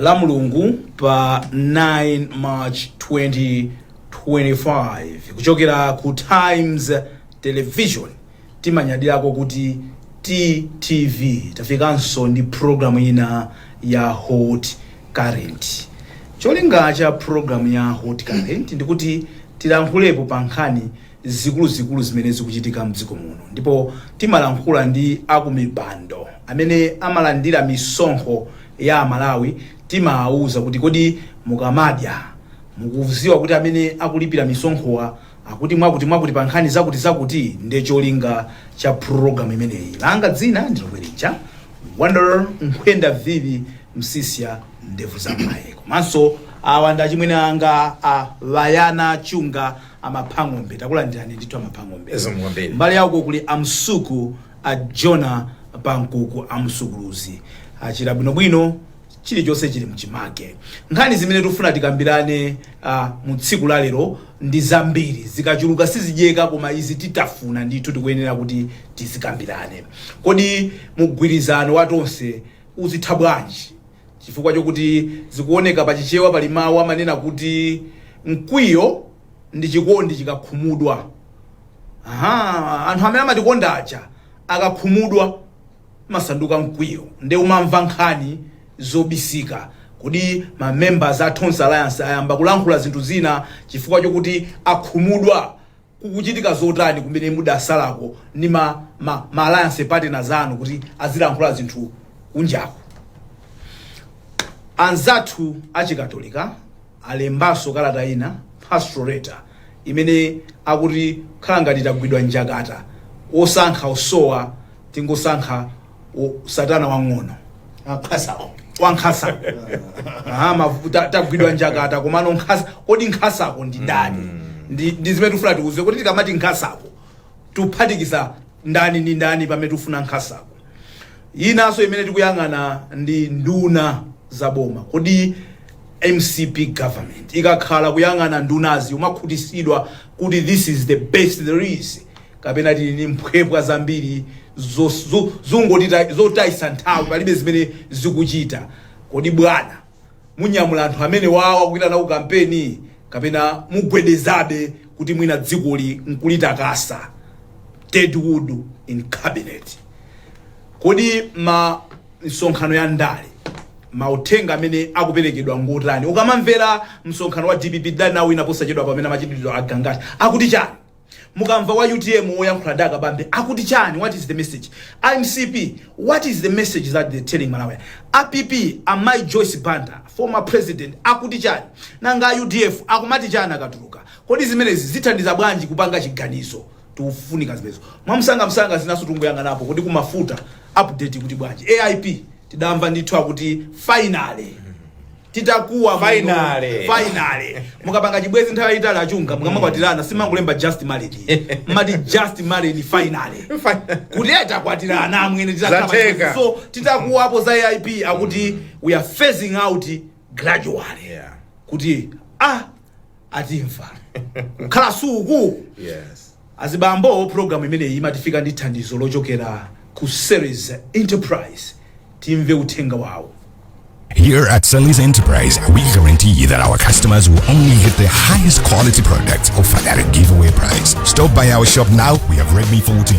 la mulungu pa 9 march 2025 kuchokera ku times television timanyadirako kuti ttv tafikanso ndi programu ina ya hot current cholinga cha programu ya hot current ndikuti tilankhulepo pa nkhani zikuluzikulu zimene zikuchitika mdziko muno ndipo timalankhula ndi akumipando amene amalandira misonkho ya amalawi timawauza kuti kodi mukamadya mukuziwa kuti amene akulipira misonkhowa akuti mwakuti mwakuti pa nkhani zakuti zakuti nde cholinga cha program imeneyi langa dzina ndilomwe lija wonder nkhwenda vivi msiska ndevu zamwayi komanso awa ndi achimwene anga a vayana chunga amapha ng'ombe takulandirani ndithu amapha ng'ombe Zikomo kwambiri. mbali yako kuli amsuku a jona pankuku amsukuluzi achira bwinobwino chilichonse chili mchimake nkhani zimene tikufuna tikambirane uh, mu tsiku la lero ndi zambiri zikachuluka sizidyeka koma izi titafuna ndithu tikuyenera kuti tizikambirane kodi mgwirizano wa tonse uzitha bwanji Chifukwa chokuti zikuoneka pa Chichewa pali mawu amanena kuti mkwiyo ndi chikondi chikakhumudwa. Aha, anthu amene amatikonda aja akakhumudwa umasanduka mkwiyo nde umamva nkhani zobisika. Kodi ma members a Tonse Alliance ayamba kulankhula zinthu zina chifukwa chokuti akhumudwa? kukuchitika zotani kumene mudatsalako ndi ma, ma, ma alliance partners anu kuti azilankhula zinthu kunjaku anzathu achikatolika alembanso kalata ina pastoral letter imene akuti khala ngati tagwidwa njakata osankha osowa tingosankha u- satana wang'ono wankhasako wankhasa Ah, mavu- ta- tagwidwa njakata komano nkhasa kodi nkhasako ndi ndani ndi ndi zimene tifuna tikuuze kuti tikamati nkhasako tuphatikiza ndani ndi ndani pamene tifuna nkhasako inanso imene tikuyang'ana ndi nduna za boma kodi mcp government ikakhala kuyang'ana ndunazi umakhutisidwa kuti this is the best there is kapena tili ndi mphwepwa zambiri zos- zo- zongotita- zotayisa nthawi palibe zimene zikuchita kodi bwana munyamula anthu amenewawa kupita nawo ku kampeni kapena mugwedezabe kuti mwina dzikoli nkulitakasa deadwood in cabinet kodi mmisonkhano ya ndale mauthenga amene akuperekedwa ngotani ukamamvera msonkhano wa dpp danawo ina posachedwa pamene amachititsa a gangata akuti chani Mukamva wa utm woyankhula ndi akabambe akuti chani what is the message? A mcp what is the message that he's telling Malawians? A PP a mayi Joyce Banda former president akuti chani? Nanga a udf akumati chani akatuluka? Kodi zimenezi zithandiza bwanji kupanga chiganizo? Tikufunika zimenezo mwamsangamsanga, zinanso tikungoyang'anapo. Kodi ku mafuta update ikuti bwanji? AIP. tidamva ndithu akuti finally titakuwa muno, Finally. finally mukapanga chibwezi nthawi yayitali a Chunga mukamakwatirana simumangolemba just married mumati just married finally kuti eh, takwatirana amwene titakhala pa Zateka. chibwezi. so titakuwapo za aip akuti we are phasing out gradually Yeah. kuti ah atimva kukhala suku Yes. azibambo program imeneyi imatifika ndi thandizo lochokera ku series enterprise timve uthenga wawo Here at Sally's Enterprise, we guarantee you that our customers will only get the highest quality products offered at a giveaway price. Stop by our shop now. We have Redmi 14,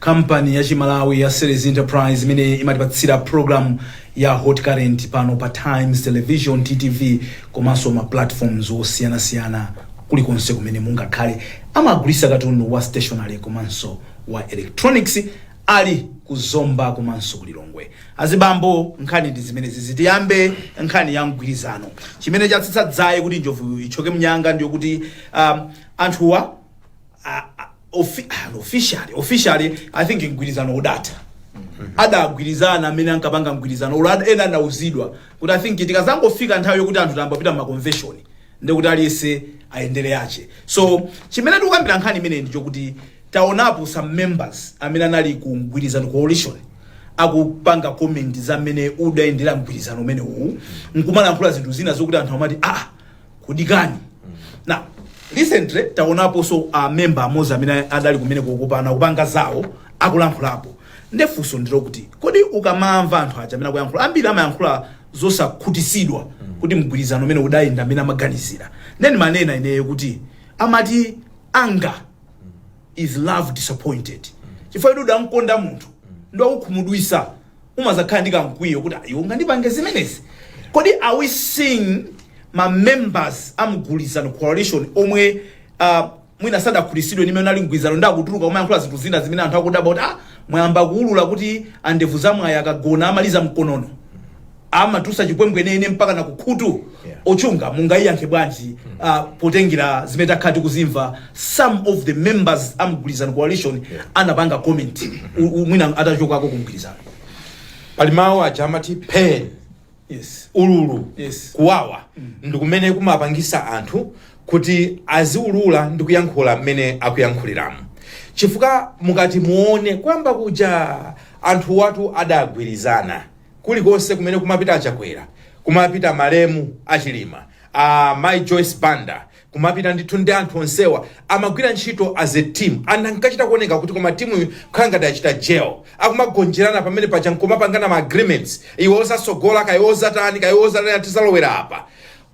kampani ya chimalawi ya series enterprise imene imatipatsira program ya hot current pano pa times television ttv komanso ma platforms osiyanasiyana kulikonse kumene mungakhale amagulisa katundu wa stationary komanso wa electronics ali ku zomba komanso ku lilongwe azibambo nkhani ndi zimenezi tiyambe nkhani ya mgwirizano chimene chatsitsa dzaye kuti njovu ithyoke mnyanga ndiyo kuti um, anthuwa a- a- Offi- ah, no, officially officially i think mgwirizano udatha adagwirizana amene ankapanga mgwirizano uwo ad- ena anauzidwa kuti i think tikazangofika nthawi yokuti anthu tayamba kupita mumaconvention ndekuti aliyense ayendere yache so chimene tikukambira nkhani imeneyi ndichokuti taonapo some members amene anali ku mgwirizano coalition akupanga comment za mmene udayendera mgwirizano umene uwu nkumalankhula zinthu zina zokuti anthu amati ah kudikani na recently taonaponso a member amodzi amene adali kumene kukupana kupanga zawo akulankhulapo ndefunso ndilo kuti kodi ukamamva anthu aja amene akuyankhula ambiri amayankhula zosakhutisidwa kuti mgwirizano umene udayenda amene amaganizira nde ndimanena ineyo kuti amati anger is love disappointed chifukwa kuti udamkonda munthu nde wakukhumudwisa umazakhala ndi kamkwiyo kuti "Ah, iwe ungandipange zimenezi kodi are we seeing ma members a mgwirizano coalition omwe uh, mwina sadakhutitsidwe ndi mmene ali mgwirizano ndi akutuluka kumayankhula zinthu zina zimene anthu akudabwa kuti ah, mwayamba kuulula kuti a Ndevu Zamwayi akagona amaliza nkonono amatusa chipwembwe nene mpaka na kukhutu Yeah. a Chunga mungayiyankhe bwanji uh, potengera zimene takhala tikuzimva some of the members a mgwirizano coalition anapanga comment u- u- mwina atachokako ku mgwirizano pali mawu aja amati pain yes ululu Yes. kuwawa ndi kumene kumapangisa anthu kuti aziulula ndi kuyankhula mmene akuyankhuliramo chifukwa mukati muone kuyamba kuja anthu awatu adagwirizana kulikonse kumene kumapita a Chakwera kumapita malemu a Chilima amayi joyce banda kumapita ndithu ndi anthu onsewa amagwira ntchito as a team and ankachita kuoneka kuti koma timuyi kukhala ngati achita gel akumagonjerana pamene paja nkumapangana ma agreements iwe uzasogola kaye uzatani kaye uzatani tizalowera apa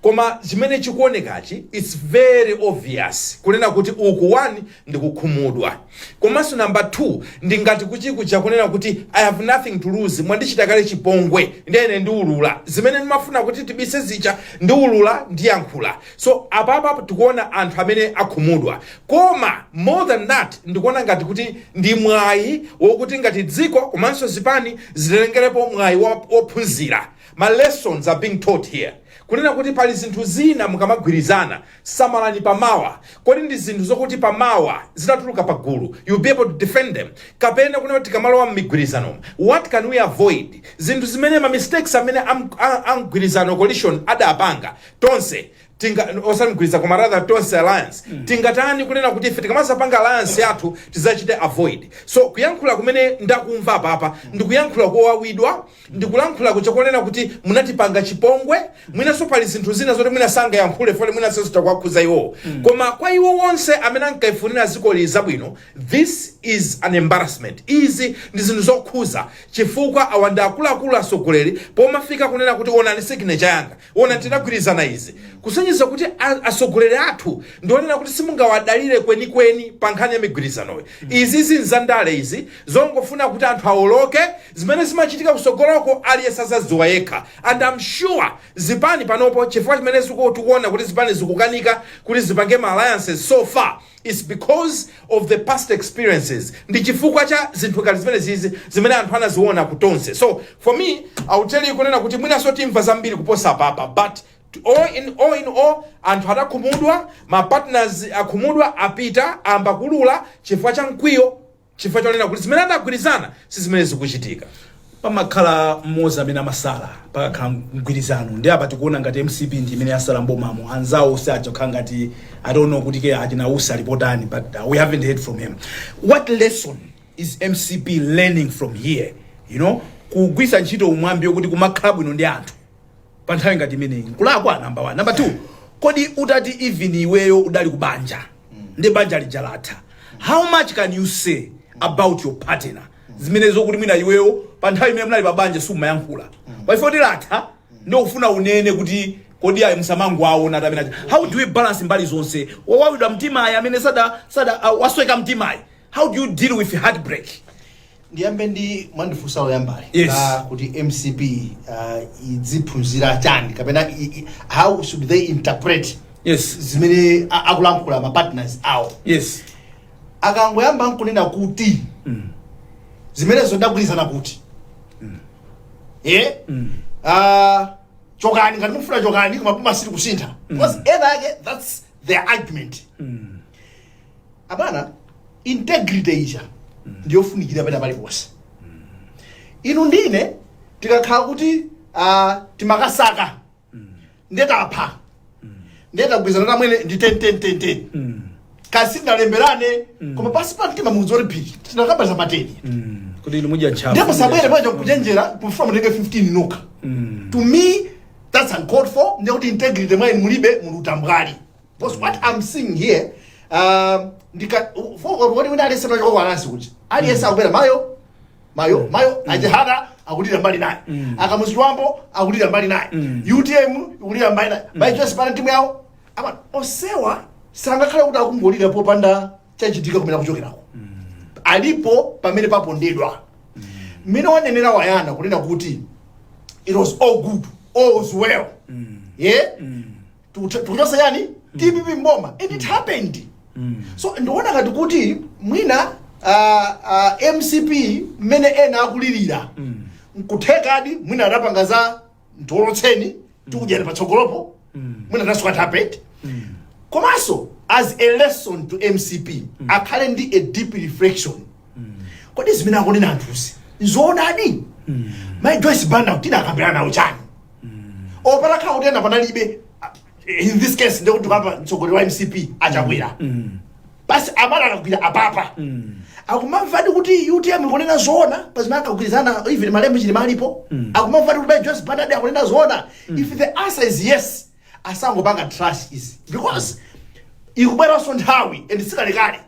koma chimene chikuonekachi its very obvious kunena kuti uku one ndikukhumudwa komanso number two ndingati kuchikuja kunena kuti i have nothing to lose mwandichita kale chipongwe ndene ndiulula zimene ndimafuna kuti tibise zija ndiulula ndiyankhula so apapa tikuona anthu amene akhumudwa koma more than that ndikuona ngati kuti ndi mwayi wokuti ngati dziko komanso zipani zitengerepo mwayi wophunzira ma lessons are being taught here kunena kuti pali zinthu zina mukamagwirizana Samalani pa mawa. Kodi ndi zinthu zokuti pa mawa zitatulukira pa gulu you'll be able to defend them kapena kunena kuti tikamalowa mmigwirizanomu what can we avoid zinthu zimene ma mistakes amene am, a, a mgwirizano coalition adapanga tonse tinga osati mgwirizano koma rather tonse alliance tingatani kunena kuti ife tikamazapanga alliance yathu tizachite avoid so kuyankhula kumene ndakumva apapa ndikuyankhula kowawidwa ndikulankhulako cha kunena kuti munatipanga chipongwe mwinanso pali zinthu zina zoti mwina sangayankhule poti mwinanso zikuwakhuza iwowo koma kwa ife tonse amene tikulifunira dzikoli zabwino this is an embarrassment izi ndi zinthu zokhudza chifukwa awa ndi akuluakulu atsogoleri pomafika kunena kuti onani signature yanga Ona, tinagwirizana izi, kusonyeza kuti a, atsogoleri athu ndi onena kuti simungawadalire kwenikweni pa nkhani ya migwirizanoyo. Izizi nzandale izi, zongofuna kuti anthu awoloke, zimene zimachitika kutsogoloko aliyense azadziwa yekha. And am sure zipani panopo chifukwa chimene ziku, tikuona kuti zipani zikukanika kuti zipange ma alliances so far, Its because of the past experiences ndi chifukwa cha zinthu ngati zimenezizi zimene anthu anaziona ku Tonse so for me I will tell you kunena kuti mwinanso timva zambiri kuposa apapa but all in all in all anthu adakhumudwa ma partners akhumudwa apita ayamba kuulula chifukwa cha mkwiyo chifukwa chonena kuti zimene anagwirizana si zimene zikuchitika. pamakhala mmodzi amene amasala pakakhala mgwirizano ndi apa tikuona ngati mcp ndi imene yasala mbomamo anzawo si aja kukhala ngati i don't know kuti kaya achina usi ali potani but uh, we haven't heard from him what lesson is mcp learning from here you know kugwiritsa ntchito mwambi wokuti kumakhala bwino ndi anthu pa nthawi ngati imeneyi nkulakwa namba 1 namba 2 kodi utati even iweyo udali ku banja ndi banja lija latha how much can you say about your partner zimene zokuti mwina iweyo pa nthawi imene munali pa banja sumayankhula pa chifukwa choti latha ndi ufuna unene kuti kodi ayi msamango aona tamene aja how do we balance mbali zonse wowawidwa mtima ayi amene sada sada uh, wasweka mtima ayi how do you deal with heartbreak ndiyambe ndi mwandifunsa loyambali Yes. la kuti mcp uh, idziphunzira chani kapena i- i- how should they interpret yes zimene a- akulankhula ma partners awo yes akangoyamba nkunena kuti zimenezo ndagwirizana kuti e Ah, chokani ngati mukufuna chokani koma ife sitikusintha because ena ake that's their argument abwana integrity ija ndiyofunikira pena paliponse inu ndine tikakhala kuti uh, timakasaka nde tapha nde tagwirizana tamwene ndi 10 Mm. koma sitinalemberane koma pasi pa mtima munthu woti phiri tinakamba za mateni Mm. kuti inu mudya ntchafu ndipo sabwere paja kuchenjera kufuna mutenge 15 nokha Mm. to me that's uncalled for ndekuti integrity mwa inu mulibe muli utambwali Because what I'm seeing here, um, ndika wodi wina alese mnacho kwa anasi kuti. Aliyese akubera mayo mayo mayo ajihada akulira mbali naye. Akamuzwambo akulira mbali naye. UTM ikulira mbali naye. Pa Alliance pa timu yawo. Ah onsewa sangakhale kuti akungolira popanda chachitika komwe akuchokerako. Alipo pamene apondedwa. Mmene wanenera wayana kunena kuti it was all good, all was well. Yeah? Tikucho- tikuchotsa chani dpp mboma and it happened so ndiona ngati kuti mwina ah, ah, mcp mmene ena akulirira nkuthekadi mwina adapanga za ndiolotseni tikudyani patsogolopo mwina that's what happened komanso as a lesson to mcp akhale ndi a deep reflection kodi zimene akunena anthuzi nzoonadi mai joyce banda tidakambirana nawo chani or patakhala kuti ena panalibe in this case ndekuti papa mtsogoleri wa mcp achakwera basi amala akagwira apapa akumamvadi kuti utm ikunena zoona pazimene akagwirizana even malemu chilima alipo akumamvadi kuti mai joyce banda akunena zoona if the answer is yes asangopanga trash izi because ikubweranso nthawi and sikalekale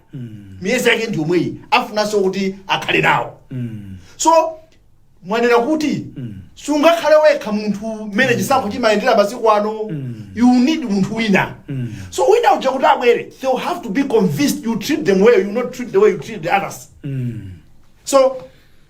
miyezi yake ndi yomweyi afunanso kuti akhale nawo so mwanena kuti sungakhale wekha munthu mmene chisankho chimayendera masiku ano you need munthu wina so wina uja kuti abwere they will have to be convinced you treat them well you'll not treat the way you treated the others so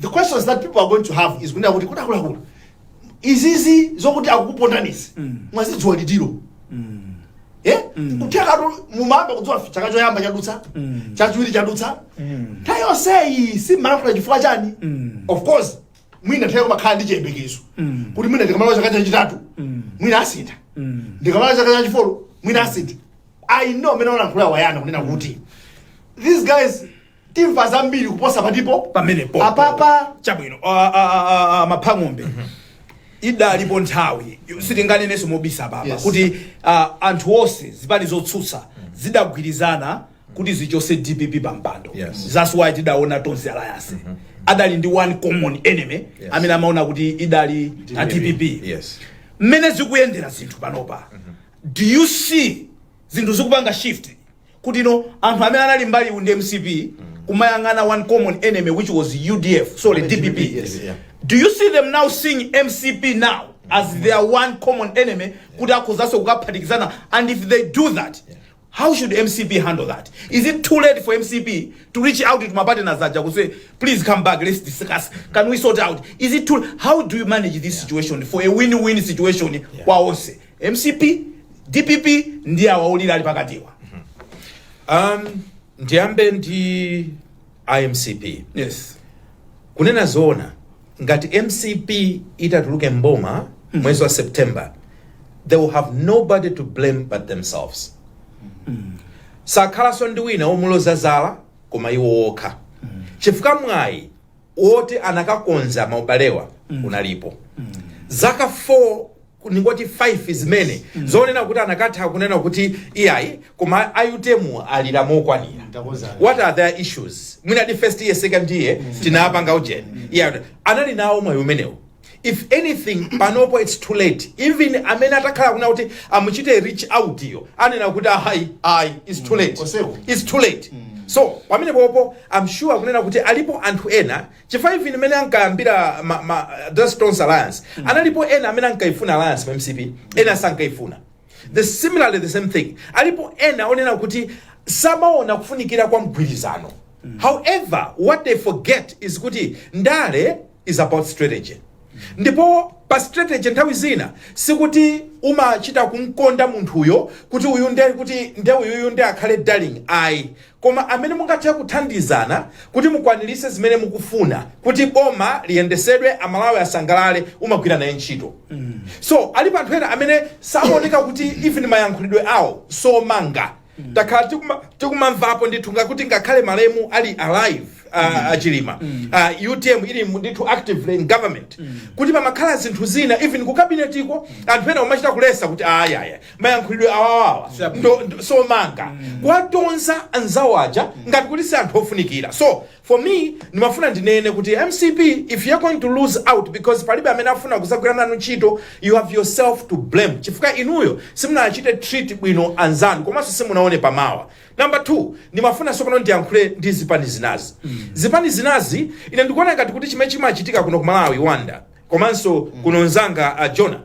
The questions that people are going to have is kunena kuti kodi akuluakulu izizi zokuti akukupondanizi mwazidziwa liti Eh? kuthekatu mumayamba kudziwa chaka choyamba chadutsa chachiwiri chadutsa nthawi yonseyi simumalankhula chifukwa chani of course mwina munthu umakhala ndi chiyembekezo kuti mwina ndikamaliza chaka chachitatu mwina asintha ndikamaliza chaka chachifolo mwina asintha i know mmene walankhula wayana kunena kuti these guys timva zambiri kuposa patipo pamenepo apapa chabwino a- a- a- a- a- a Mhango idalipo nthawi sitinganenenso mobisa papa Yes. kuti ah, anthu onse zipani zotsutsa zidagwirizana kuti zichose dpp pa mpando Yes. that's why tidaona tonse alliance adali ndi one common enemy Yes. amene amaona kuti idali a dpp yes mmene zikuyendera zinthu panopa do you see zinthu zikupanga shift kutino anthu amene anali mbali iwu ndi mcp kumayang'ana one common enemy which was udf sorry dpp yes, yeah. do you see them now seeing mcp now as their one common enemy kuti akhozanso kukaphatikizana and if they do that how should mcp handle that is it too late for mcp to reach out to mapartners aja ku say please come back let's discuss can we sort out is it too how do you manage this situation for a win-win situation kwa onse mcp dpp ndi awa olira ali pakatiwa um, ndiyambe ndi a mcp yes kunena zoona ngati mcp itatuluke mboma mwezi wa september they will have nobody to blame but themselves sakhalanso ndi wina womuloza zala koma iwo okha chifukwa mwayi woti anakakonza maubalewa unalipo zaka 4 ningoti 5 zimene zonena kuti anakatha kunena kuti iyayi koma a utm alira mokwanira Ndakonza. what are their issues mwina ndi first year second year tinapanga ujeni yeah. anali nawo mwayi umenewu If anything panopo its too late even amene atakhala akunena kuti amuchite reach out yo anena kuti ayi ayi its too late Onsewo. its too late so pamene popo am sure akunena kuti alipo anthu ena chifukwa even mmene ankayambira ma, ma, tonse alliance analipo ena amene ankaifuna alliance mu mcp ena sankaifuna The similarly the same thing alipo ena onena kuti samaona kufunikira kwa mgwirizano however what they forget is kuti ndale is about strategy ndipo pa strategy nthawi zina sikuti umachita kumkonda munthuyo kuti uyu nde kuti nde uyuyu nde akhale darling ayi koma amene mungathe kuthandizana kuti mukwanilitse zimene mukufuna kuti boma liyendesedwe amalawi asangalale umagwira naye ntchito so alipo anthu ena amene sakuoneka kuti even mayankhulidwe awo somanga takhala tikuma- tikumamvapo ndithu kuti ngakhale malemu ali alive uh, achilima uh, utm ili mu- ndithu actively in government kuti pamakhala zinthu zina even ku kabinetiko anthu ena umachita kulisa kuti ayaya mayankhulidwe awawawa Sure. ndi- ndi osamanga kuwatonza anzawo aja ngati kuti si anthu ofunikira so for me ndimafuna ndinene kuti mcp if you're going to lose out because palibe amene afuna kudzagwira nanu ntchito you have yourself to blame chifukwa inuyo simunachite treat bwino anzanu komanso simunaone pamawa number two ndimafuna sopano ndiyankhule ndi zipani zinazi zipani zinazi ine ndikuona ngati kuti chimene chimachitika kuno ku malawi wanda komanso kuno nzanga uh, jona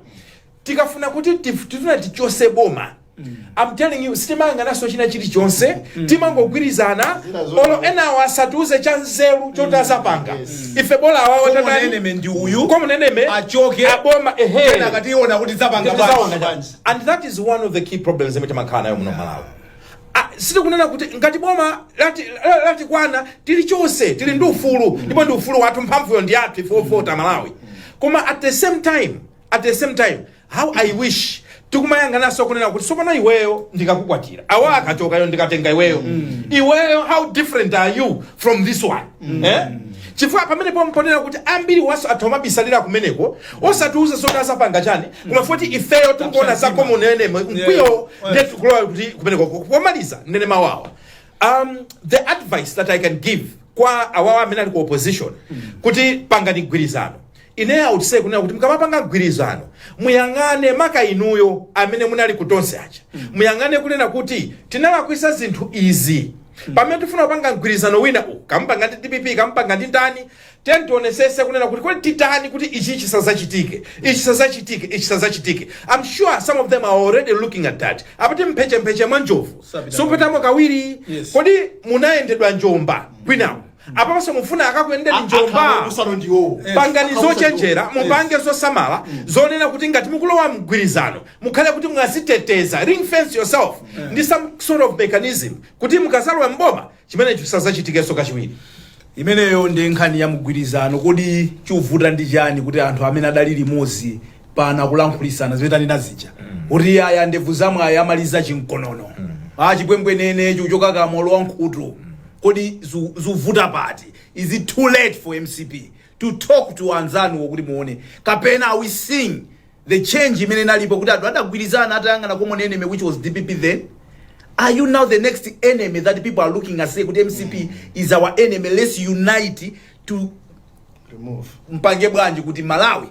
tikafuna kuti tif- tifuna tichose boma I'm telling you sitimayang'ananso china chilichonse timangogwirizana Zina zote. olo enawo asatiuze cha nzeru choti azapanga, ife bola awawo Common enemy ndi uyu. common enemy Achoke. aboma eeh Ena akati iona kuti zapanga Tizaona bwanji. cha- and that is one of the key problems imene timakhala nayo muno malawi Ah, sitikunena kuti ngati boma lati- la- latikwana tili tonse tili ndi ufulu ndipo ndi ufulu wathu mphamvuyo ndi yathu ife ovota malawi koma at the same time at the same time how i wish tikumayang'anaso kunena kuti sopano iweyo ndikakukwatira awa akachokayo ndikatenga iweyo iweyo how different are you from this one eh? chifukwa pamene pompo kunena kuti ambiri mwa anzathu amabisalira kumeneko osatiuza zoti azapanga chani koma poti ifeyo tikuona za common enemy mkwiyo Yeah. ndetikulowa kuti kumeneko pomaliza nde ndi mavuto Um, the advice that I can give kwa awawa amene ali ku opposition kuti pangani mgwirizano ine I would say kunena kuti mukamapanga mgwirizano muyang'ane maka inuyo amene munali ku tonse aja muyang'ane kunena kuti tinalakwisa zinthu izi pamene tifuna kupanga mgwirizano wina uwu kaya mupanga ndi dpp kaya mupanga ndi ndani Tiyeni tionesese kunena kuti kodi titani kuti ichi chisazachitike, ichi chisazachitike, ichi chisazachitike. Am sure some of them are already looking at that. Amati m'mphechepeche mwa njovu sapitamo kawiri. Kodi munayendedwapo njomba kwinako? Apapaso mufuna akakuyendeni njomba? Pangani zochenjera, mupange zosamala zonena kuti ngati mukulowa mgwirizano mukhale kuti mwaziteteza, ring fence yourself ndi some sort of mechanism kuti mukazalowa m'boma chimenecho chisadzachitikenso kachiwiri. Imeneyo nde nkhani ya mgwirizano kodi chuvuta ndi chani kuti anthu amene adali limozi pano akulankhulisana zimene tanena zija kuti aya ndebvu za mwayi amaliza chimkonono a chipwembwenene chichoka m'kamwa kulowa m'khutu kodi zu- zuvuta pati is it too late for mcp to talk to anzanuwo kuti muone kapena are we seeing the change imene inalipo kuti anthu adagwirizana atayang'ana common enemy which was dpp then are you now the next enemy that people are looking and say kuti mcp mm. is our enemy let's unite to remove tipange bwanji kuti malawi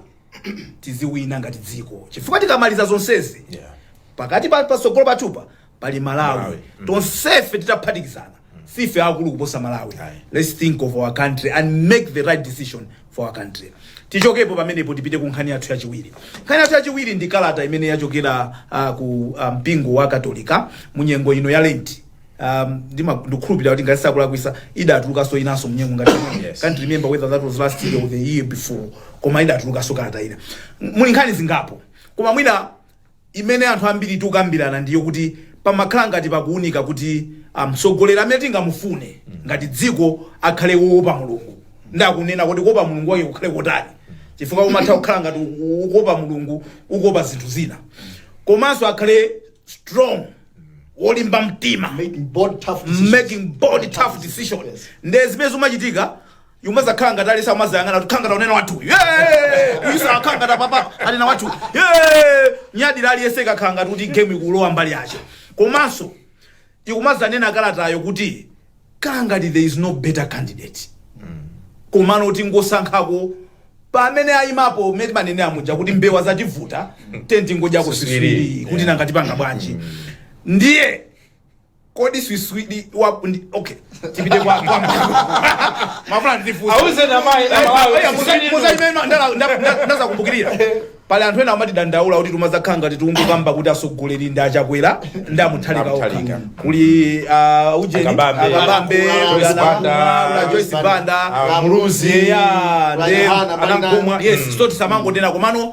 tiziwina ngati dziko chifukwa tikamaliza zonsezi yeah. pakati pa pasogolo patupa pali malawi Malawi. Mm. tonsefe titaphatikizana sife akulu kuposa malawi Aye. let's think of our country and make the right decision for our country tichokepo pamenepo tipite ku nkhani yathu yachiwiri nkhani yathu yachiwiri ndi kalata imene yachokera uh, ku uh, mpingo wa katolika mu nyengo ino ya lenti um, ndima- ndikukhulupirira kuti ngati sinkulakwisa idatulukanso inanso mnyengo ngati Yes. can't remember whether that was last year or the year before koma idatulukanso kalata ina muli nkhani zingapo koma mwina imene anthu ambiri tikukambirana ndi yokuti pomakhala ngati pakuunika kuti a mtsogoleri amene tingamufune ngati dziko akhale woopa mulungu ndi akunena kodi kuopa mulungu wake kukhale kotani chifukwa umatha kukhala ngati u- ukuopa mulungu ukuopa zinthu zina komanso akhale strong wolimba mtima making bold tough decisions making bold tough decision Yes. nde zimene zikumachitika ikumazakhala ngati aliyense akumazayang'ana kuti akhala ngati akunena wathu uyu Eh, uyunso akhala ngati apapa anena wathu Eh, nyadira aliyense ikukhala ngati kuti game ikulowa mbali yake komanso ikumazanena kalatayo kuti kukhala ngati there is no better candidate komano kuti kungosankhako pamene ayimapo mmene timanenera muja kuti mbewa zativuta tenti ngodya kusiswiri kuti nanga tipanga bwanji ndiye kodi swiswidi wa ndi okay tipite kwa kwa mafuna ndifusa Auze na mai na malawi. ndazakumbukirira pali anthu ena amatidandaula kuti tumazakhala ngati tikungokamba kuti atsogoleri ndi a Chakwera ndi a Mutharika okha a Mutharika. kuli ah, ujeni a Kabambe. a Kabambe kuli, kuli ana- Banda. kuli a Joyce Banda Ah, Muluzi. ya Kula ndi Yohana, Banda. a Nankhumwa yes so tisamangonena komano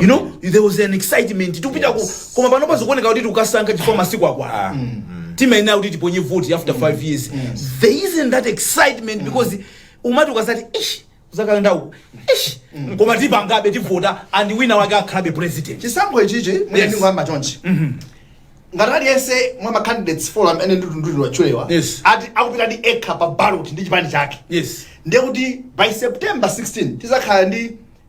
you know Kwambiri. there was an excitement tikupita ku Yes. koma pano zikuoneka kuti tikukasankha chifukwa masiku akwana timayenera kuti tiponye vote after 5 years there isn't that excitement because umati ukasankha ish uzakadandaula ish koma tipangabe tivota and wina wake akhalabe president chisankho ichichi Yes. mwina ndingoyamba chonchi ngati aliyense mwa macandidates four amene ndi otchulidwachulidwa Yes. ati akupita ndi ekha pa ballot ndi chipani chake yes ndiye kuti by september 16 tizakhala ndi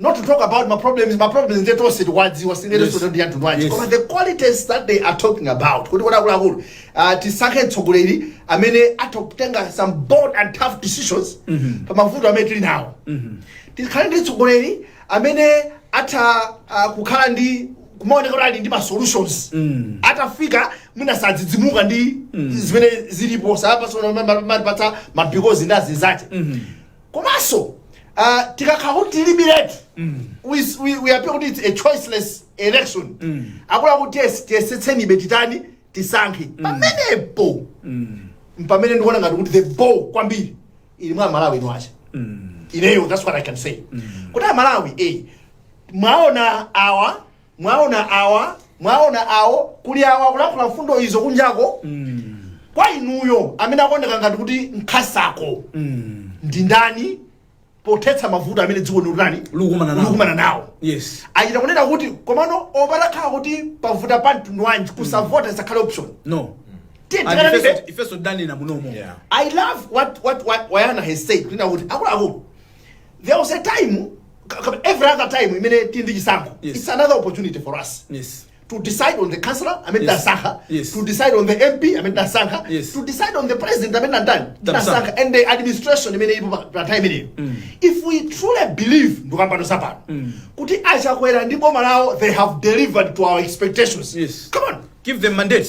not to talk about my problems my problems nde tonse tikuwadziwa si nkhani Yes. soto ndi anthu nwaji Yes. koma the qualities that they are talking about kuti kuti akuluakulu uh, tisankhe mtsogoleri amene atha kutenga some bold and tough decisions pa mavuto amene tili nawo tikhale ndi mtsogoleri amene atha uh, kukhala ndi maonekedwe oti ali ndi ma solutions atafika mwina sadzidzimuka ndi zimene zilipo osati kumatipatsa mabikozi ndi azinzake komanso uh, tikakhala kuti tilibiretu with- we- we appear kuti it's a choiceless election akuti yes, tiyesetsebe titani tisankhe pamenepo mpamene ndikuona ngati kuti the ball kwambiri ili mwa amalawi ine kwa ineyo that's what i can say kuti amalawi eh, mwaona awa mwaona awa mwaona awo kuli awa kulankhula mfundo izo kunjako kwa inuyo amene akuoneka ngati kuti nkasako ndi ndani pothetsa mavuto amene dziko ndikutani Likukumana nawo. likukumana nawo yes achita kunena kuti komano olo patakhala kuti pavuta pa mtundu wanji kusavota isakhale option no Tiye And tikanenetse. ifenso- ifenso tanena munomo Yeah. I love what what what Wayana has said. Kunena kuti akuluakulu there was a time every other time imene tili ndi chisankho Yes. it's another opportunity for us yes to decide on the councillor amene tamusankha Yes. to decide on the mp amene tasankha Yes. to decide on the president amene nandani Tamusankha. tasankha and the administration imene ilipo pa- pa time imeneyo if we truly believe ndikukamba no zapano kuti achakwera ndi boma lawo they have delivered to our expectations Yes. come on give them mandate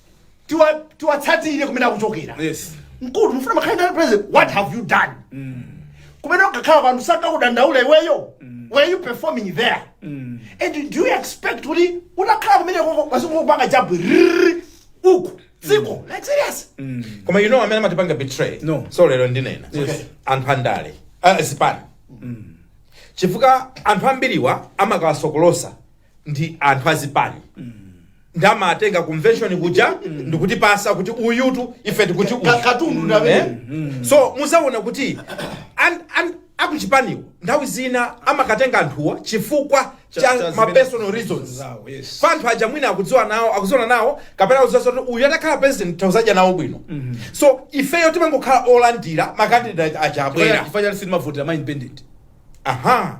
tiwa- tiwatsatirire kumene akuchokera Yes. mkulu mufuna mukhale ngati president what have you done kumene ukukhala pa anthu sakakudandaula iweyo were you performing there and do you expect kuti utakhala kumene koko wasingokupanga jabu rrrr, uku dziko like serious koma you know amene amatipanga betray No. so lero ndinena Yes. anthu andale ah, zipani chifukwa anthu ambiriwa amakawasokolotsa ndi anthu azipani ndi amatenga convention kuja ndikutipatsa kuti uyutu ife tikuti uyu. Ka- katundu ndi amene. Eh? so muzaona kuti an- an- akuchipaniwo nthawi zina amakatenga anthuwa chifukwa Cha- cha cha ma zimene- personal reasons zawo, yes. pa anthu aja mwina akudziwa nawo akudziwana nawo kapena akudziwa kuti uyu atakhala president tidzadya nawo bwino so ifeyo timangokhala olandira makandidate aja abwera Chifanya- chifanya sili mavotera ma independent aha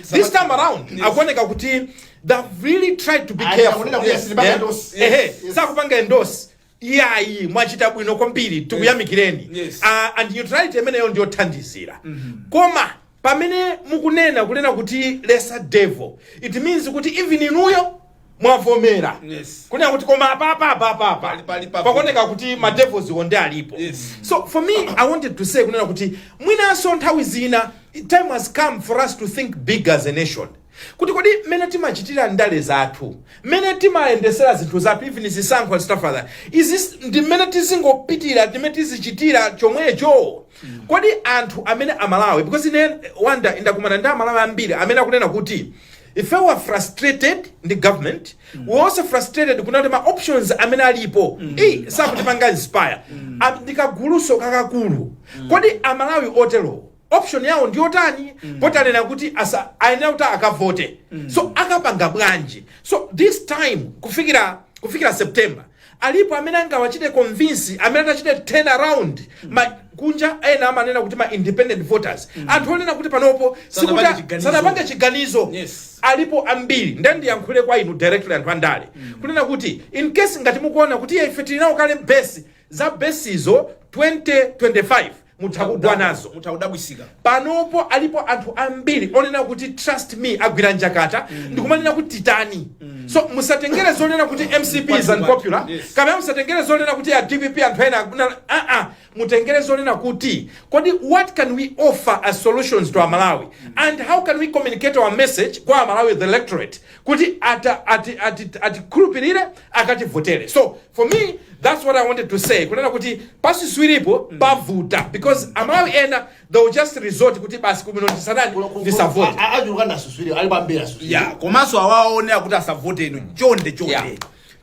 this time around Yes. akuoneka kuti they've really tried to be Ayi, careful akunena kuti Yes. sitipanga Eh? endorse. Ehe, Yes. Yes. sakupanga endorse iyayi mwachita bwino kwambiri tikuyamikireni Yes. Ah, and neutrality imeneyo ndiyothandizira koma pamene mukunena kunena kuti lesser devil it means kuti even inuyo mwavomera Yes. kunena kuti koma apapa apapa apa Pali- pali papo. pakuoneka kuti ma devils wo nde alipo Yes. so for me i wanted to say kunena kuti mwinanso nthawi zina time has come for us to think big as a nation kuti kodi mmene timachitira ndale zathu mmene timayendesera zinthu zathu even zisankho and stuff like that izi ndi mmene tizingopitira mmene tizichitira chomwecho kodi anthu amene amalawi because ineyo nda ndakumana ndi amalawi ambiri amene akunena kuti Ife we are frustrated ndi government, we are also frustrated kunena kuti ma options amene alipo eyi sakutipanga inspire. Am- Ndi kaguluso kakakulu. Kodi Amalawi oterowo option yawo ndi yotani? Poti anena kuti asa- ayenera kuti akavote. So akapanga bwanji? So this time kufikira kufikira September Alipo amene angawachite convince amene atachite turn around ma kunja ena amanena kuti ma independent voters mm. anthu onena kuti panopo si- sanapange chiganizo yes. alipo ambiri nde ndiyankhule kwa inu directly anthu andale mm. kunena kuti in case ngati mukuona kuti ife tili nawo kale base za base zo 2025 mutha kugwa nazo mutha kudabwisika panopo alipo anthu ambiri onena kuti trust me agwira njakata mm. ndikumanena kuti titani mm. so musatengere zonena kuti mcp is unpopular yes. kapena musatengere zonena kuti a dpp anthu ena aa mutengere zonena kuti kodi what can we offer as solutions to amalawi mm. and how can we communicate our message kwa amalawi the electorate kuti ata ati ati atikhulupirire akativotere so for me that's what i wanted to say kunena kuti pasuswiripo pavuta because amalawi ena they will just resort kuti basi kumino tisatani tisavote achuluka nasuswiri ali pambiri asuswiri ya komanso awaone akuti asavote ino chonde chonde Yeah.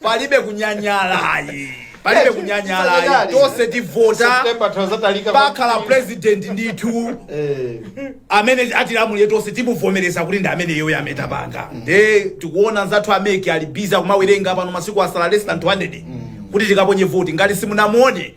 palibe kunyanyala ayi palibe Eh, kunyanyala ayi tinyanyale. tonse tivota September tazatalika pakhala president ndithu Eh, amene atilamulire tonse timuvomereza kuti ndi amene iyoyo ametapanga nde tikuona anzathu a MEC ali busy kumawerenga pano masiku asala less than 200 kuti tikaponye voti ngati simunamve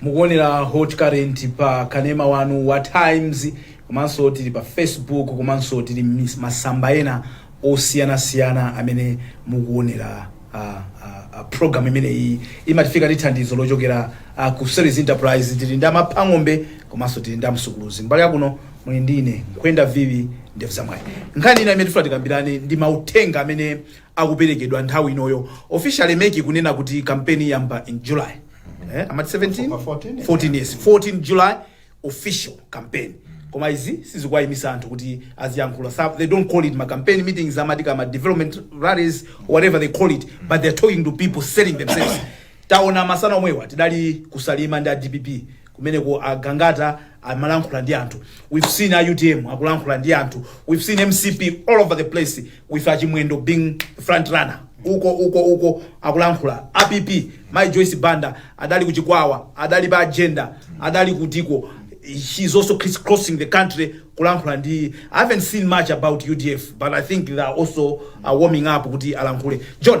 mukuonera hot current pa kanema wanu wa times komanso tili pa facebook komanso tili m'mis- masamba ena osiyanasiyana amene mukuonera a, a, a program imeneyi imatifika ndi thandizo lochokera a, ku service enterprise tili ndi amaphang'ombe komanso tili ndi amsukuluzi mbali yakuno muli ndi ine nkhwenda vivi ndevu zamwayi nkhani ina imene tifuna tikambirane ndi mauthenga amene akuperekedwa nthawi inoyo officially MEC kunena kuti kampeni iyamba in july eh, amati 17 October 14, 14 yes 14 july official campaign koma izi sizikuwayimisa anthu kuti aziyankhula Some- they don't call it ma campaign meetings amati ndi ma development rallies whatever they call it but they're talking to people selling themselves taona masana omwewa adali kusalima ndi a dpp kumeneko a Gangata amalankhula ndi anthu we've seen a utm akulankhula ndi anthu we've seen mcp all over the place with a Chimwendo being front runner uko uko uko akulankhula a pp mai joyce banda adali kuchikwawa adali pa Jenda adali kutikuti she's also criss crossing the country kulankhula ndi i haven't seen much about udf but i think they are also uh, warming up kuti alankhule john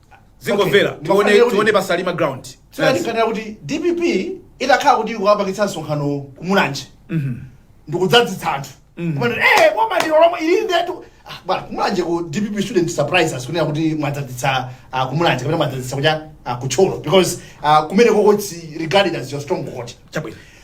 ndingomvera Okay. tione Ndimafunira kuti- tione pasalima ground Yes. tinganena kuti dpp itakhala kuti ikukapangitsa msonkhano kumulanje ndikudzadzitsa anthu kumene ee boma ndilo lomweli ndetu Ah, bwana kumulanje ku dpp shouldn't surprise us kunena kuti mwadzadzitsa ah, kumulanje kapena mwadzadzitsa kucha ah, kuthyolo because ah, kumeneko ko it's regarded as your stronghold chabwino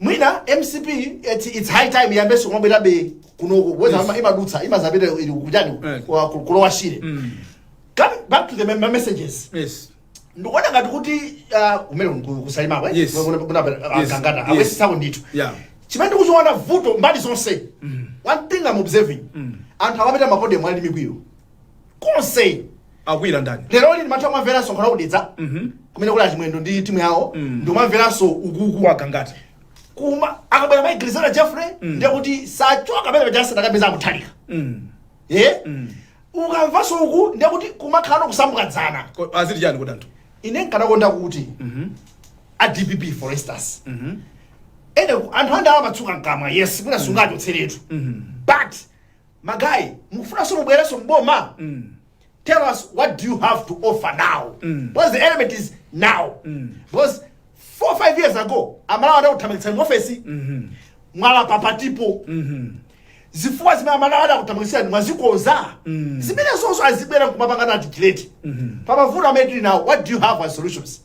mwina mcp it's high time iyambenso kumabwerabe kunoko kubweza Yes. yes. imadutsa imadzapita ili kuchani Eh. kwa- ku- kulowa shire Mm. come back to the mem- messages Yes. ndikuona ngati kuti ah, kumene ku- kusalimako Yes. Yes. kangata Yes. ayesetsako ndithu Yeah. chimene ndikuchiona vuto mbali zonse one thing I'm observing anthu akapita mapodium ali ndi mikwiyo konse akuwira ndani lero lini mathu amamvera msonkhano wakudedza kumene kuli achimwendo ndi timu yawo ndi umamveranso ukuku waka ngati kuma akabwera mai griselda jeffrey ndiye kuti sachoka pamene pachasi takapeza akuthalika Mm. ye ukamvanso uku ndiye kuti kumakhala kusambuka dzana Ko- aziti chani kuti anthu ine nkadakonda kuti a dpp for instance ene ku- anthu andala amatsuka nkamwa yes mwina sungachotseletu but ma guys mukufunanso mubwerenso mboma tell us what do you have to offer now because the element is now because four five years ago amalawi adakuthamangitsani ofesi mwalapa patilipo zifukwa zimene amalawi adakuthamangitsani mwazikonza zimenezo azibwera nkumapangana articulate pamavuto amene tili nawo what do you have as solutions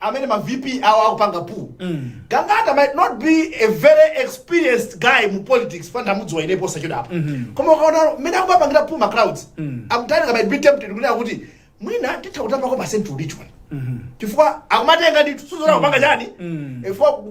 amene ma vp awo akupanga buu gangata might not be a very experienced guy mu politics mfana ndamudziwa ine posachedwapa koma ukaona mmene akumapangira buu ma crowds akutalika might be tempted kunena kuti mwina atha kutapako pa central region chifukwa akumatenga ndithu sizoona kupanga chani chifukwa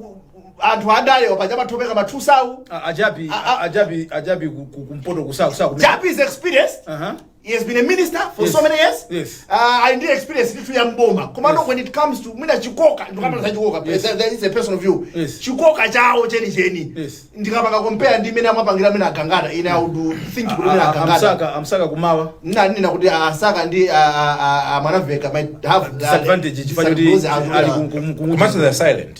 anthu andale wapaja matopeka mathusawu A- a jappie A- a- a jappie a jappie ku- ku- kumpoto a saka a saka jappie is experienced Aha. He has been a minister for Yes. so many years. Yes. Uh, ali ndi experience ya mboma. Komano Yes. when it comes to mwina chikoka, ndikukamba za chikoka. Yes. That, that is a personal view. Yes. Chikoka chao cheni cheni. Yes. Ndikapaka compare ndi mina amapangira mina agangada. Ine I would think kuti mwina A- a- a gangata. a msaka a msaka kummawa Ine ndinena kuti a msaka ndi a- a- a- a mwanamvekha might have disadvantage chifukwa choti ali ku- ku- ku- komanso they are silent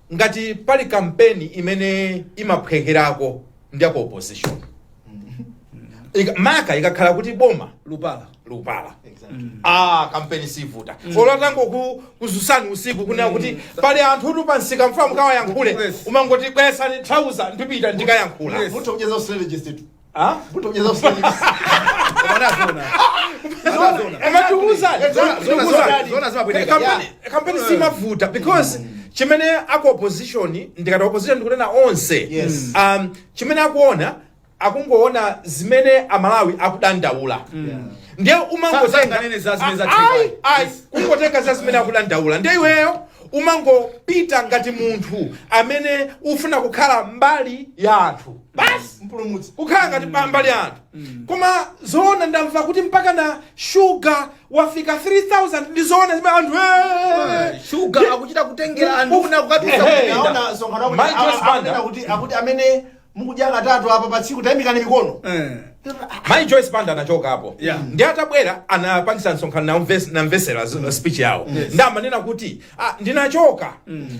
ngati pali kampeni imene imaphwekerako ndi ya ku opposition Maka- maka ikakhala kuti boma likupalapala Exactly. ah kampeni siivuta olo atangokudzutsani usiku kunena kuti pali anthu uku pamsika tikufuna mukawayankhule Yes. umangoti bweretsani thauza ndipite ndikayankhule Yes. Munthu kucheza strategist tu. Ah? Kutokeza usajili. Bwana zona. Zona, zona. Akatiuza. Eh, zona, zona, zona, zona zimabwereka. Kampeni- kampeni siimavuta because chimene aku opposition ndikati opposition ndikunena onse Yes. um, chimene akuona akungoona zimene amalawi akudandaula ndiye Sa- sanganene za zimene za umangotenga Tigray. ayi kungotenga za zimene akudandaula ndiye iweyo umangopita ngati munthu amene ufuna kukhala mbali ya anthu basi mpulumutsi akukhala ngati pambali anthu koma zoona ndamva kuti mpaka na shuga wafika 3000 ndi zoona zimene anthu eh, shuga akuchita kutengera anthu una kukatusa Ehe. kupinda Naona msonkhano wakuti Mike awa- A Banda. akunena kuti akuti amene mukudya katatu apa pa tsiku taimikani mikono Eh. mayi joyce banda anachokapo Yeah. ndiye atabwera anapangisa msonkhano ndamves- ndamvesera z- speech yawo ndiye amanena kuti ah, ndinachoka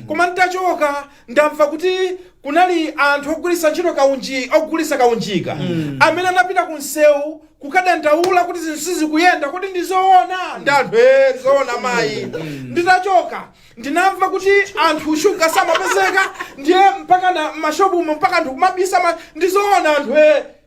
koma nditachoka Ndamva kuti kunali anthu ogwira ntchito kaunji, ogulitsa kaunjika amene anapita ku msewu kukadandaula kuti zinthu sizikuyenda. Kodi ndi zoona? Ndi anthu ee, ndi zoona mayi. Nditachoka ndinamva kuti anthu shuga samapezeka ndiye mpaka na m'mashopumo mpaka anthu kumabisa ndi zoona anthu ee.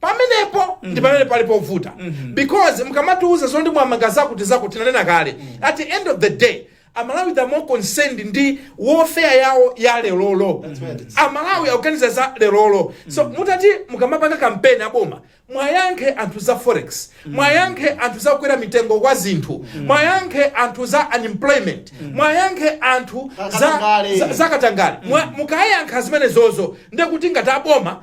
pamenepo ndi pamene pali povuta because mukamatiuza zoti mwamanga zakuti zakuti tinanena kale at the end of the day amalawi are more concerned ndi welfare yawo ya lerolo amalawi akuganiza za lerolo so mutati mukamapanga kampeni aboma mwayankhe anthu za forex mwayankhe anthu za kukwera mitengo kwa zinthu mwayankhe anthu za unemployment mwayankhe anthu za, Akatangale. za, za katangale Mwa- mukayankha zimenezozo ndekuti ngati aboma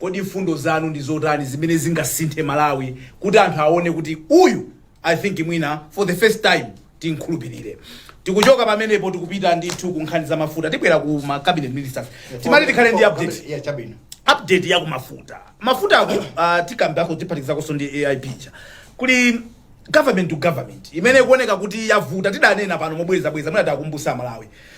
Kodi mfundo zanu ndi zotani zimene zingasinthe Malawi kuti anthu awone kuti uyu I think mwina for the first time timkhulupirire. Tikuchoka pamenepo tikupita ndithu ku nkhani za mafuta. Tibwera ku ma cabinet ministers. Timati tikhale ndi update. Yeah, chabwino. Update ya ku mafuta. Mafutawo uh, tikambako tiphatikizakonso ndi AIP ija. Kuli government to government imene ikuoneka kuti yavuta tidanena pano mobwerezabwereza mwina takumbutsa Amalawi.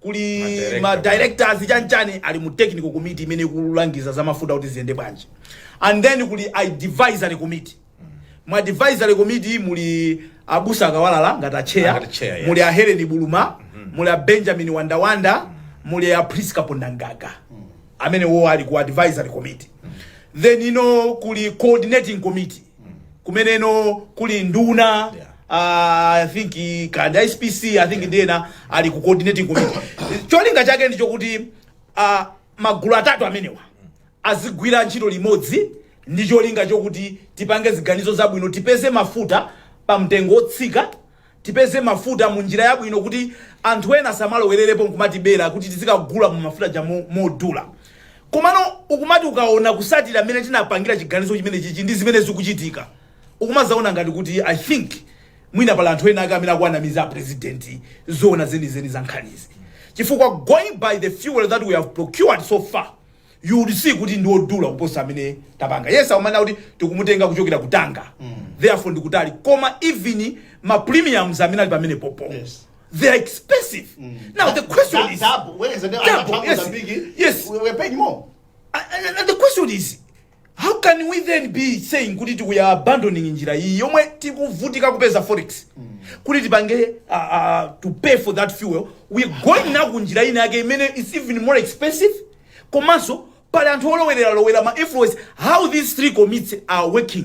kuli Madirector. ma directors chanchani ali mu technical committee imene ikulangiza za mafuta kuti ziyende bwanji and then kuli advisory committee mu advisory committee muli abusa a Kawalala ngati acheya Ngati chair, yes. muli a Helen Buluma muli a Benjamin Wandawanda muli a Prisca Pondangaga amenewo ali ku advisory committee then uno kuli coordinating committee kumeneko kuli nduna Yeah. ah, i think i- ndi a SPC i think ndi ena ali ku coordinating committee cholinga chake ndi chokuti ah, magulu atatu amenewa azigwira ntchito limodzi ndi cholinga chokuti tipange ziganizo zabwino tipeze mafuta pa mtengo wotsika Tipeze mafuta mu njira yabwino kuti anthu ena asamalowererepo nkumatibera kuti tizikagula mu mafuta aja mo- modula. Komano ukumati ukaona kutsatira mmene tinapangira chiganizo chimenechichi ndi zimene zikuchitika ukumazaona ngati kuti I think mwina pali anthu ena ake amene akuwanamiza a president zoona zenizeni za nkhanizi chifukwa going by the fuel that we have procured so far you would see kuti ndi odula kuposa amene tapanga yes akumanena kuti tikumutenga kuchokera kutanga therefore ndikutali koma even ma premiums amene ali pamenepopo Yes. they are expensive now the question is Double, whereas the Double, other yes, Mozambique, yes. we- we're paying more. and, and- and the question is How can we then be saying kuti tikuyi abandoning njira iyi yomwe tikuvutika kupeza forex kuti tipange uh, uh, to pay for that fuel we're going now ku njira ina yake imene is even more expensive komanso pali anthu olowerera lowera ma influence how these three committees are working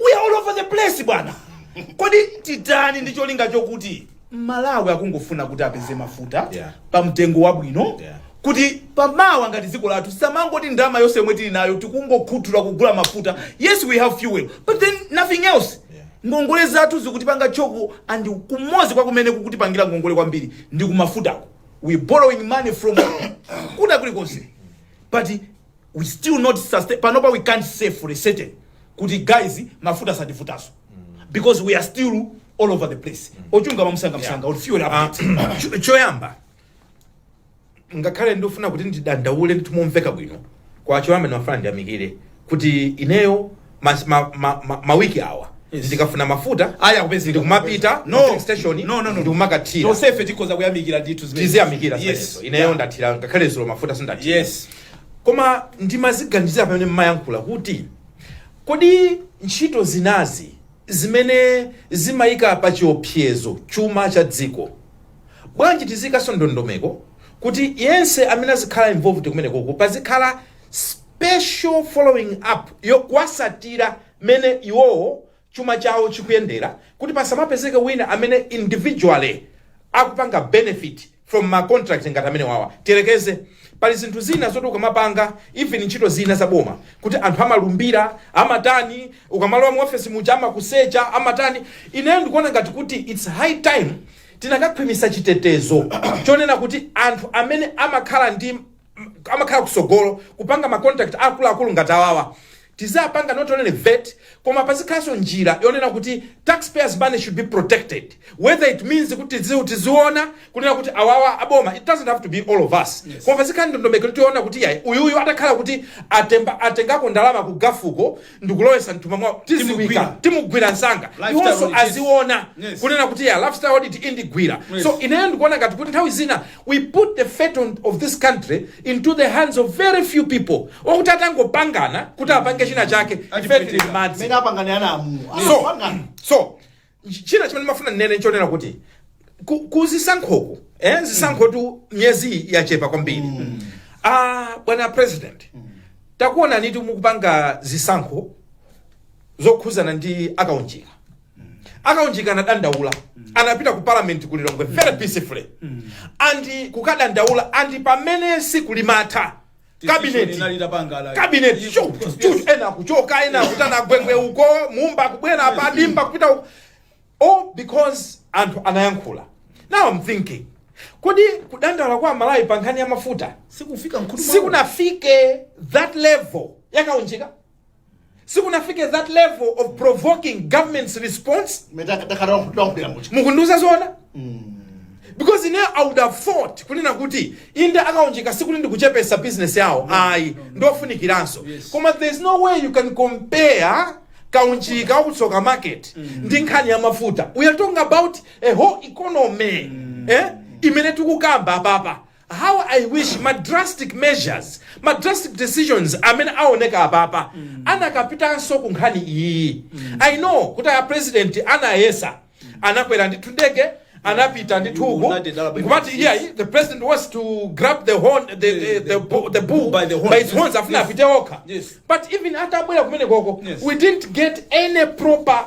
we are all over the place bwana kodi titani ndi cholinga chokuti aMalawi akungofuna kuti apeze mafuta Yeah. pa mtengo wabwino Yeah. kuti pamawa ngati dziko lathu tisamangoti ndalama yonse yomwe tili nayo tikungokhuthula kugula mafuta yes we have fuel but then nothing else Yeah. ngongole zathu zikutipanga choke and kumodzi kwa kumene kukutipangira ngongole kwambiri ndi kumafutako we're borrowing money from kuda kulikonse but we're still not sustain panopa we can't say for certain kuti guys mafuta sativutanso because we are still all over the place ochunga mwamsangamsanga or fuel updates Cho- choyamba ngakhale ndifuna kuti ndidandaule ndithu momveka bwino kwa choyamba ndimafuna ndiyamikire kuti ineyo mas- ma- ma- ma- mawiki awa ndikafuna mafuta Aya kupezeka. ndikumapita No. ku station No, no, no, no. ndikumakathira tonsefe tikhoza kuyamikira ndithu zimene- tiziyamikira Yes. zimenezo ineyo ndathira ngakhale dzulo mafuta sindathira yes koma ndimaziganizira pamene mmayankhula kuti kodi ntchito zinazi zimene zimayika pa chiopsezo chuma cha dziko bwanji tiziyikanso ndondomeko kuti yense amene azikhala involved kumenekoko pazikhala special following up yo kuwatsatira mmene iwowo chuma chawo chikuyendera kuti pasamapezeke wina amene individually akupanga benefit from ma contract ngati amenewawa tiyerekeze pali zinthu zina zoti ukamapanga even ntchito zina za boma kuti anthu amalumbira amatani ukamalowa mu office muja amakusecha amatani ineyo ndikuona ngati kuti it's high time tinakakhwimisa chitetezo chonena kuti anthu amene amakhala ndi amakhala kutsogolo kupanga ma contract akuluakulu ngati awawa tiziwapanga not only vet koma pazikhalanso njira yonena kuti taxpayers money should be protected whether it means kuti tizi- tiziona kunena kuti awawa aboma it doesn't have to be all of us yes. koma pazikhala ndondomeko yonena kuti yayi uyuyu atakhala kuti atemba atengako ndalama ku gafuko ndikulowesa mthumba mwawo tidziwika Timugwira. timugwira msanga Lifestyle iwonso audit, yes. aziona Yes. kunena kuti yeah lifestyle audit indigwira Yes. so ineyo ndikuona ngati kuti nthawi zina we put the fate on- of this country into the hands of very few people okuti atangopangana kuti apange china chake ife tili m'madzi mmene apangane ana amu so so Ch- china chimene ndimafuna ndinene n'chonena kuti ku, ku zisankhoku eh, zisankhotu miyezi iyi yachepa kwambiri ah, bwana president takuonanitu mukupanga zisankho zokhuzana ndi akaunjika akaunjika anadandaula anapita ku parliament ku lilongwe very peacefully and kukadandaula and pamene tsiku limatha kabineti kabineti shuffle ena kuchoka ena kutana gwengwe uko mumba kubwera pa dimba kupita uko all because anthu anayankhula now i'm thinking kodi kudandaula kwa amalawi pa nkhani ya mafuta sikufika mkhutu sikunafike that level yakaunjika sikunafike that level of provoking government's response mukundiuza zona because ine i would have thought kunena kuti inde akaunjika sikuti ndikuchepesa business yawo ayi ndofunikiranso Yes. koma there's no way you can compare kaunjika waku tsoka market ndi nkhani ya mafuta we are talking about a whole economy eh? imene tikukamba apapa How I wish ma drastic measures, ma drastic decisions amene awoneka apapa akanapitanso ku nkhani iyiyi. I know kuti a president anayesa, anakwera ndithu ndege, anapita ndithu uku, United Arab nkumati Emirates, iyayi, the president wants to grab the horn, the, the, the, the, bull- the bull by the horn. by its horns, afuna Yes. apite okha. Yes. But even atabwera kumenekoko, Yes. we didn't get any proper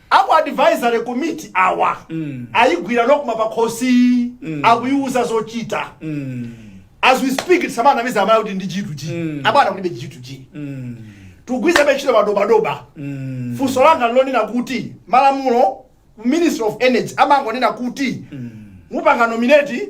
Aku advisory komiti awa ayigwira nocma pakhosi akuyiwuza zochita as we speak tisamanamize amalawi kuti ndi G2G abwana kulibe G2G tikugwiritsabe ntchito madobadoba funso langa ndi lonena kuti malamulo ministry of energy amangonena kuti mupanga nominate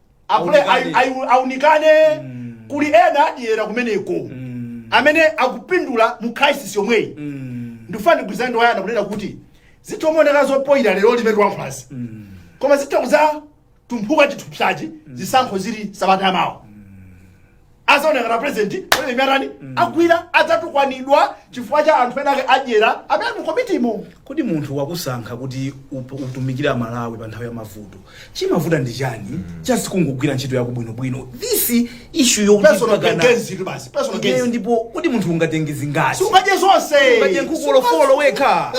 apule Aunikane. ai- ai- aunikane Mm. kuli ena adyera kumeneko Mm. amene akupindula mu crisis yomweyi Mm. ndifuna ndigwirizane ndi wayana kunena kuti zitha kumaoneka zopoyira lero lipenenti wankhanza Mm. koma zitha kuzatumphuka chithupsachi zisankho zili sabata yamawa azaoneka na president ngati anthu amene agwira adzatukwanidwa chifukwa cha anthu ena ake adyera amene ali mu komitimo kodi munthu wakusankha kuti up- utumikire amalawi pa nthawi ya mavuto chimavuta ndi chani just kungogwira ntchito yako bwinobwino this issue ya personal gains tu basi personal ineyo gains ndipo kodi munthu ungatenge zingati sungadye zonse ungatenge nkhuku olofolo wekha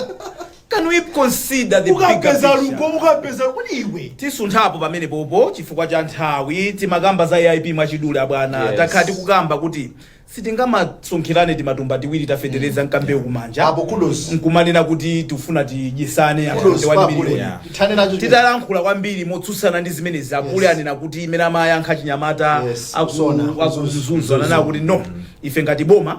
Can we consider the bigger ukapeza lugo picture? ukapeza kodi iwe tisunthapo pamene popo chifukwa cha nthawi timakamba za aip mwachidule abwana Yes. takhala tikukamba kuti sitingamasonkhirane timatumba tiwiri tafetereza mkambewu kumanja apo kudos nkumanena kuti tifuna tidyesane anthu kudos ndi 1 apule miliyoni. Yeah. tithane nacho chimene- titalankhula kwambiri motsutsana ndi zimenezi apule Yes. anena kuti imene amayankha chinyamata Yes, aku- kusona, akuzunza ananena kuti no ife ngati boma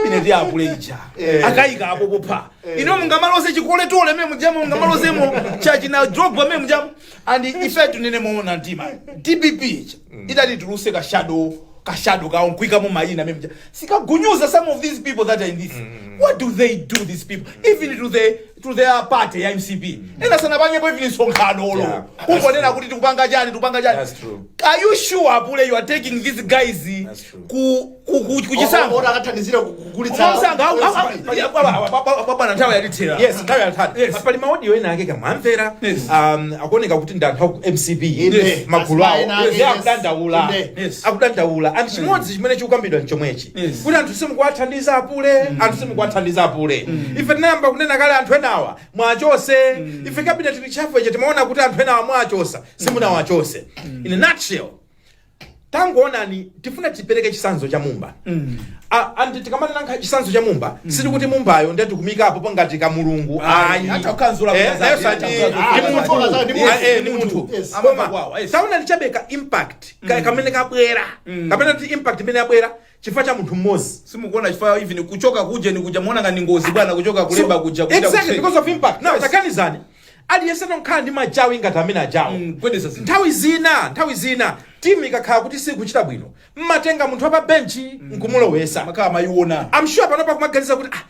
imene ndi apule ija Eh. akayika apo popha Eh. inu mungamaloze Nicolas Otole mene mujamo mungamalozemo chakutina Drogba mene mujamo and ife tunene moona mtima dpp ija idati tuluse ka shadow ka shadow kawo nkuikamo mayina mene muja sitikunyoza some of these people that are in this what do they do these people even to the to their party ya mcp ena sanapangepo even msonkhano Yeah, that's kungonena kuti tikupanga chani tikupanga chani That's true. are you sure apule you are taking these guys That's true. ku ku- ku- kuchisankho Ora akathandizira ku- kugulitsa Mwamsanga, au- au- au- Pali- ya- bwana- bwana- bwana- bwana- bwana, nthawi yatithera Yes, nthawi yatithera. Yes. Pa- pali maodiyo ena ake kamwamvera Yes. um, akuoneka kuti ndi anthu aku mcp Yes. magulu awo Asmaena, Yes, yes. akudandaula Yes. Yes. akudandaula anthu chimodzi chimene chikukambidwa n'chomwechi Yes. kuti anthu simukuwathandiza apule anthu simukuwathandiza apule ife tinayamba kunena kale anthu enawa muwachotse ife cabinet reshuffle ija timaona kuti anthu enawa muwachotsa simunawachotse in a nutshell tangoonani tifuna tipereke chitsanzo cha Mumba Mm. A- and tikamanena chitsanzo cha Mumba sikuti Mumbayo ndiye tikumupopa ngati ka mulungu Ayi, ayi hata kukanzula Eh, kukaza- yes, ati- kukaza- ndi kukaza- munthu. kukaza- ndi Yes, munthu. eh, ndi munthu Yes. Koma, Amapakwawa, yes. taonani chabe ka impact ka- kamene kabwera kapena kuti impact imene yabwera chifukwa cha munthu mmodzi. simukuona chifukwa even kuchoka ku ujeni kuja mukuona ngati ngozi bwana kuchoka ku labour kuja kupita exactly ku trade. because of impact now Yes. taganizani aliyense amakhala ndi machawi ngati amene ajawo Mm, gwedeza zinthu. nthawi zina nthawi zina timu ikakhala kuti sikuchita bwino mmatenga munthu wapa benchi nkumulowesa mumakhala mwayiona I'm sure panopa mukuganiza kuti ah,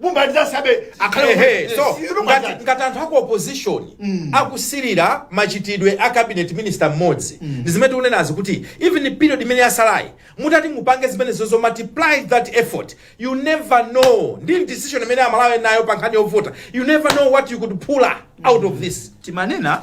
Bumbali za sabe akhale Ehe, omwe. so Izi bumbali ngati, za- ngati anthu aku opposition akusirira machitidwe a cabinet minister mmodzi ndi zimene tikunenazi kuti even period imene yatsalayi mutati mupange zimenezozo multiply that effort you never know ndi decision imene aMalawi ali nayo pa nkhani yovota you never know what you could pull out of this timanena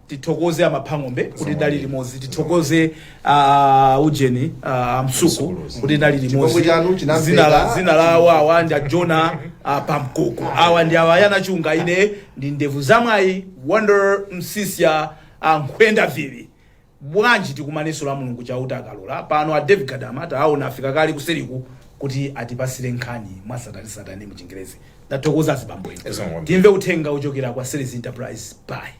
tithokoze a Mapang'ombe kuti tidali limodzi tithokoze uh, ujeni uh, Msuku kuti tidali Chipongwe limodzi chanu chinamveka. zina la zina la awa awa ndi a Jonah uh, Pankuku awa ndi a Yona Chunga ine ndi ndevu zamwayi wonder msisya uh, mukwenda vili bwanji tikumanenso la mulungu chauta akalola pano a david gadama taawona afika kale kuseriku kuti atipatsire nkhani mwa tsatanetsatane mu chingerezi ndathokoza azibambo inu Yes, ma'am. timve uthenga wochokera kwa series enterprise bye